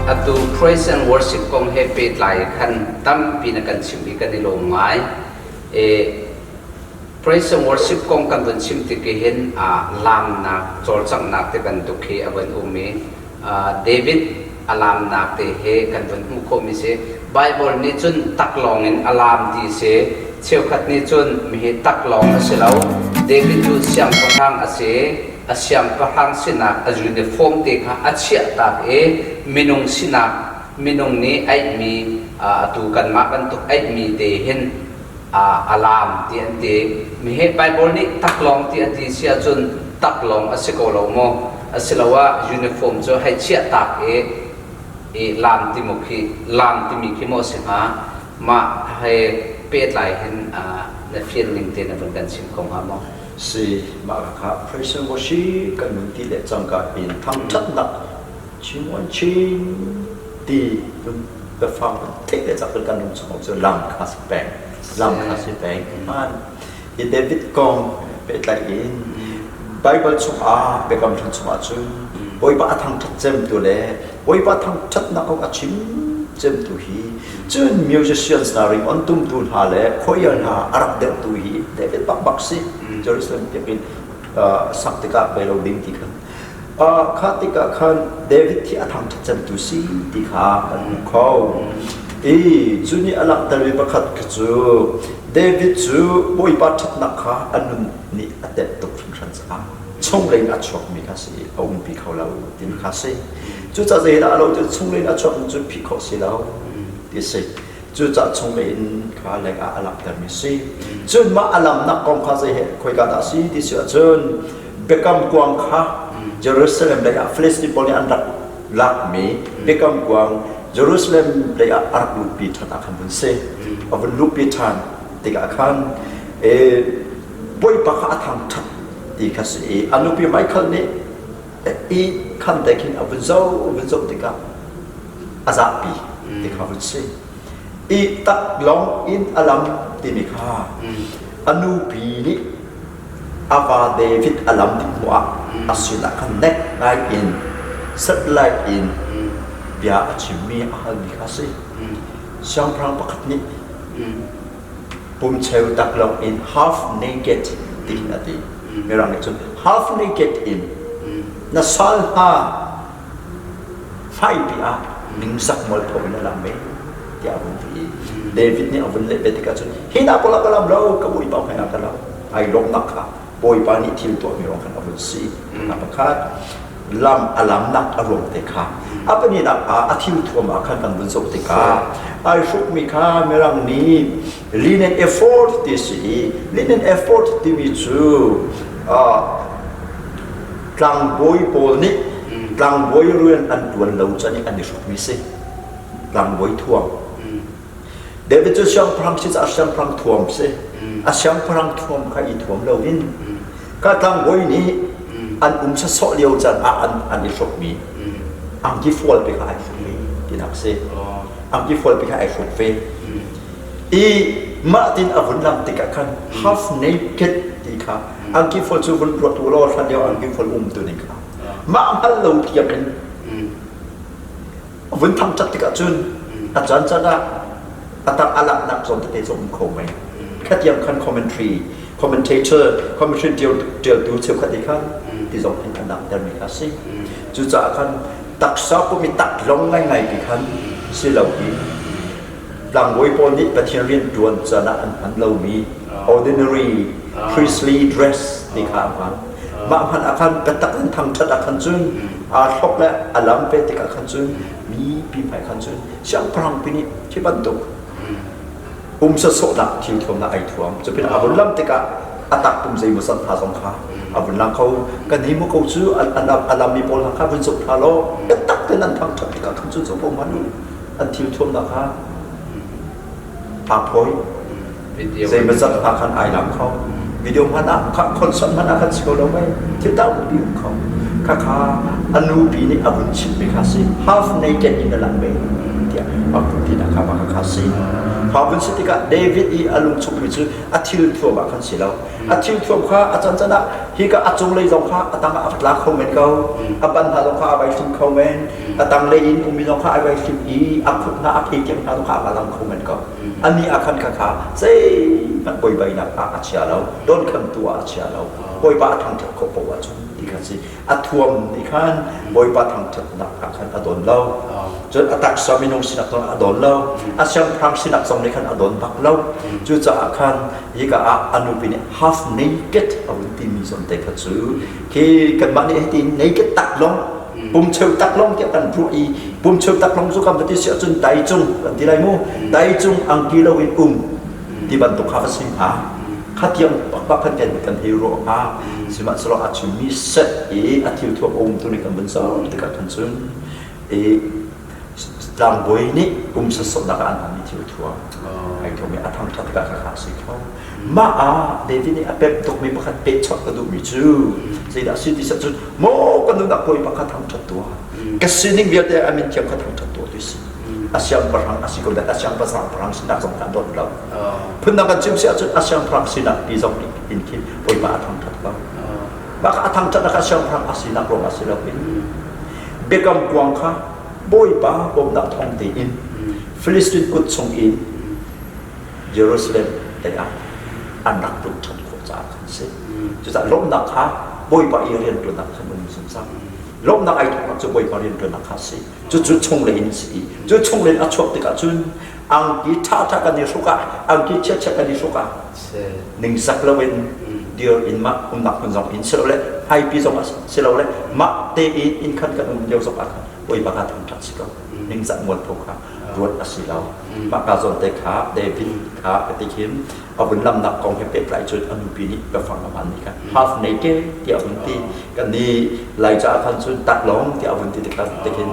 Atu praise and worship kong he pehtlai khan tampi na kan chim hi kan i lawm ngai. E, praise and worship kong kan vun chim tik hin ah laamnak cawlcanghnak te bantuk hi a van um i uh, David a laamnak te hi kan vun hmuh khawhmi si. Baibal nih cun tak lawng in a laam ti si. Cheukhat nih cun hihi tak lawng a si lo. David cu siangpahrang a si i a siangpahrang sinak a uniform te kha a chiahtak i minung sinak minung nih aihmi atu kanmah bantuk aihmi te hin a laam ti an ti. Mihe Baibal nih taklawng ti a ti si ahcun taklawng a si ko lo maw? Asiloah uniform cu hei chiah tak i i laam ti mu khi laam timi khi maw a si hnga? Mah he pehtlai hin na fian ning te na vun kan chim ko hnga maw? Si, mah lak ah Christian worship kan vun ti le cangka in thangṭhatnak Chingon Chin ti biafang tete cak in kan ram chung cu lam kha si peng lam kha si peng hman hi David kong pehtlaih in Bible chungah Biakam Hlun chungah cun Bawipa a thangṭhat cemtu le Bawipa thangṭhatnak kong a chim cemtu hi cun musicians hna ring on tumtu hna le choir hna a rak deuhtu hi David bakbak si Jerusalem biakinn sak tikah bei lo ding ti khan Khah tikah khan David hi a thangṭhatchantu si ti kha kan hmuh kho. I cu nih a langhtermi pakhat kha cu David cu Bawipa ṭhatnak kha a nun nih a temh tuk hringhran caah chunglei in a chuakmi kha si a umpi kho lo ti kha a si. Cucaah zeidah a lo ti chunglei in a chuakmi cu phih khawh si lo ti a si. cucah chungme in kha lek ah a langhtermi si cun mah a langhnak kong kha zei he khoika dah si ti si ahcun biakam kuang kha Jerusalem lei ah Philistine pawl nih an rak lakmi biakam kuang Jerusalem lei ah a rak luhpi ṭhan ah khan vun si a vun luhpi ṭhan tikah khan e, bawipa kha a thang ṭhat ti kha si i a nupi Michael nih i khamte khin a vun zoh vun zoh tikah a zapi ti kha vun si i tak long in a lam timi kha a nupi nih a pa David a lam ding hmuah a sinah khan nek ngai in satellite in bia a chimmi a halmi kha a si siangpahrang pakhat nih pum cheu tak lawng in half naked tiin a ti. Mirang nih cun half naked in na sal hna fai pi ah ningsak mualpho in a lang me tiah a vun ti i David nih a vun leh ve tikah cun hi hna pawl ah ka lam lo ka bawipa hmaiah ka lam ai lawmnak kha Bawipa nih thil tuahmi ruang khan a vun si. Nula pakhat lam a lamnak a ruang te kha a pahninak ah a thil thuam ah khan kan vun zoh tikah ai hrukmi kha mirang nih linen effort ti si i linen effort timi cu tlangbawi pawl nih tlangbawi rian an tuan lo can i an i hrukmi si tlangbawi thuam David cu siangpahrang si caah siangpahrang thuam si. A siangpahrang thuam kha i thuam loin ka tlangbawi nih an um sawsawh lio can ah an, an i hrukmi angki fualpi kha ai hruk ve tinak si. Angki fualpi kha ai hruk ve. I mah tin a vun lang tikah khan half naked ti kha angki fual cu vun ruat u law hlan lio angki fual um tuning kha mah hngal lo tiangin a vun thang cat tikah cun a caan caan ah a tang a laknak zawn tete cu um kho mai khatiang khan commentary commentator commentary tialtu cheukhat i khan ti zong in an langhtermi kha a si cucaah khan taksa pumi tak long ngaingai ti khan si lo i Tlangbawi pawl nih Pathian rianṭuan canah an hman lomi ordinary priestly dress ti kha an hman. Mah hmanh ah khan biatak in thangṭhat ah khan cun aa thlop le a lam ve tikah khan cun mipi hmai khan cun siangpahrang pi nih khi bantuk pum sawhsawhnak thil thuamnak ai thuam cu pin a vun lam tikah a tak pum zeimaw san hna zong kha a vun lang kho kan hi mu ko cu a lam mi pawl hna kha vun zuk hna law biatak in an thangṭhat tikah khan cun cu ko ma ni an thilthuam nakhnga aa phawi zeimazat hna khan ai lam kho video hmanh ah concert hmanh ah kan si ko lo mei thil tau bupi um kho khakha anu pi nih a vun chimmi kha si half naked in a lang ve tiah a vun ti nakha ma kha si kha vun si tikah david i a lungchungmi cu a thil thuam ah kan si lo a thil thuam kha a can can ah hi ka a cung lei zong kha a tang ah a tla kho men ko a ban hna zong kha a vai thum kho men a tanglei in umino kha ai vai hlim i a khut hna a phei tiang hna tu kha a lam kho men ko ani a khan kha kha zeihmanh poibainak ah a chia lo don khantu ah a chia lo bawipa a thangṭhat ko poah cu ti khan si a thuam ni khan bawipa thangṭhatnak ah khan a don lo cun a taksa minung sinak zong a don lo a siangpahrang sinak zong nih khan a don bak lo cucaah khan hika ah a nupi nih half naked a hun timi zong te kha cu khi kanmah nih hitin naked tak long pum cheu tak long tiah kan ruah i pum cheu tak long cu kan va ti si ahcun dai cung kan ti lai mu dai cung angki lo in um ti bantuk kha ka si hnga khatiang pakpak khan kan kan hei ruah hnga sihmanhsehlaw a chimmi set i a thil thuam a umtu nih kan van sau tikah khan cun i tlangbawi nih um sawsawhnak ah an hmanmi thil thuam ai thuam i a thangṭhat ka khakha a si kho mah ah David nih a pek tukmi pakhat peh chawt ka duhmi cu zeidah a si ti cun maw ka nunah puai pakhat thangṭhat tuah ka sining vialte a min thiam kha thangṭhat tuah ti si a siangpahrang a si ko deh a siangpahrang sinak zong kan dawt lo phundang kan chim si ahcun a siangpahrang sinak ti zong in khin puai pa a thangṭhat lo mah a thangṭhat nak a siangpahrang a sinak ruang ah si lo in Biakam kuang kha Bawipa bawmhnak thawng tein Filistin kut chungin Jerusalem leiah an rak lut ṭhan khawh caah khan a si. Cucaah lawmhnak kha Bawipa i rianṭuannak khan um zungzal. Lawmhnak ai thawknak cu Bawipa rianṭuannak kha a si. Cucu chunglei in a si i cu chunglei in a chuak tikah cun angki ṭhaṭha kan i hruk ah angki chiachiat kan i hruk ah ningsak loin dir in mah umnak hmun zong in silo le haipi zong ah silo le mah te i inn khan kan um lio zong ah khan voi pakhat an ṭhat si lo ningzak mualpho kha ruat a si lo mah ka zawn te kha david kha ka ti khin a vun lamnak kong he pehtlai cun a nupi nih ka fang a hmanmi kha half naked tiah a vun ti kan ni lai caah khan cun tak lawng tiah a vun ti tikhan tikhin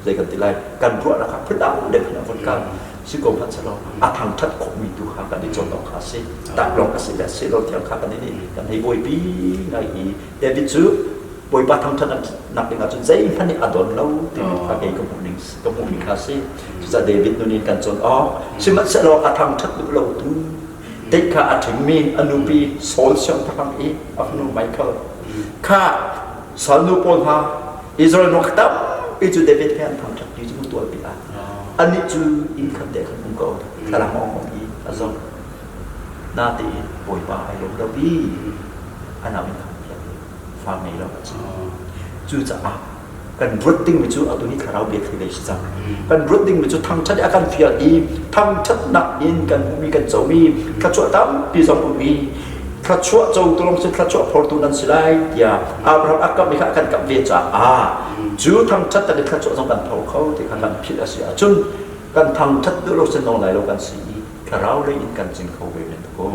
zei kan ti lai kan ruahnak kha phundang dek in a vun kal si ko hmanh selaw a thangṭhat khawhmi tu kha kan i cawn awk kha a si tak lawng a si le a si lo tiang kha kan i nih kan hei buaipi ngai i David cu Bawipa thangṭhat nak ding ahcun zeihmanh nih a don lo timi kha kei ka hmuhning ka hmuhmi kha a si cucaah David nun in kan cawn awk sihmanhsehlaw a thangṭhat duh lo tu Tik kha a ṭhimmi a nupi Saul siangpahrang i a fanu Michael kha salnu pawl hna Israel ram tampi cu David he an thangṭhatpi cu hmutual pi ah anih cu inn khat te khan um ko thlarang a awng i a zong natein bawipa ai lo lo i a nauin a thiang fa ngei lo a si cucaah kan ruat dingmi cu atu ni thlarau bia khi dei si cang kan ruat dingmi cu thangṭhat i a kan fial i thangṭhatnak in kan um i kan co i thluachuah tampi zong um i thluachuah co tu lawng cu thluachuah phortu nan si lai tiah Abraham a kamh i kha a kan kamh ve caah cu thangṭhat le thluachuah zong kan tho kho ti kha kan philh a si ahcun kan thangṭhat tu lawng cu nong lai lo kan si i thlarau lei in kan jing kho ve men ko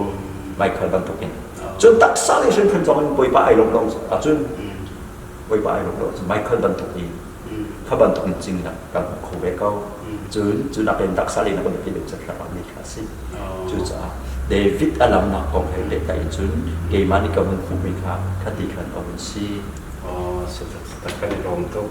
Michael bantukin cun taksa le hrimhrim zong in Bawipa ai lawm lo ahcun Bawipa ai ruat lo cu Michael bantuk i kha bantuk in cing nak kan hmu kho ve ko. Cun cu nak in taksa lei nak kan biapi lemcet rak ah mi kha a si. Cucaah David a lamnak kong he lehta in cun keimah nih ka vun hmuhmi kha khati khan a vun si. Kan i lawm tuk.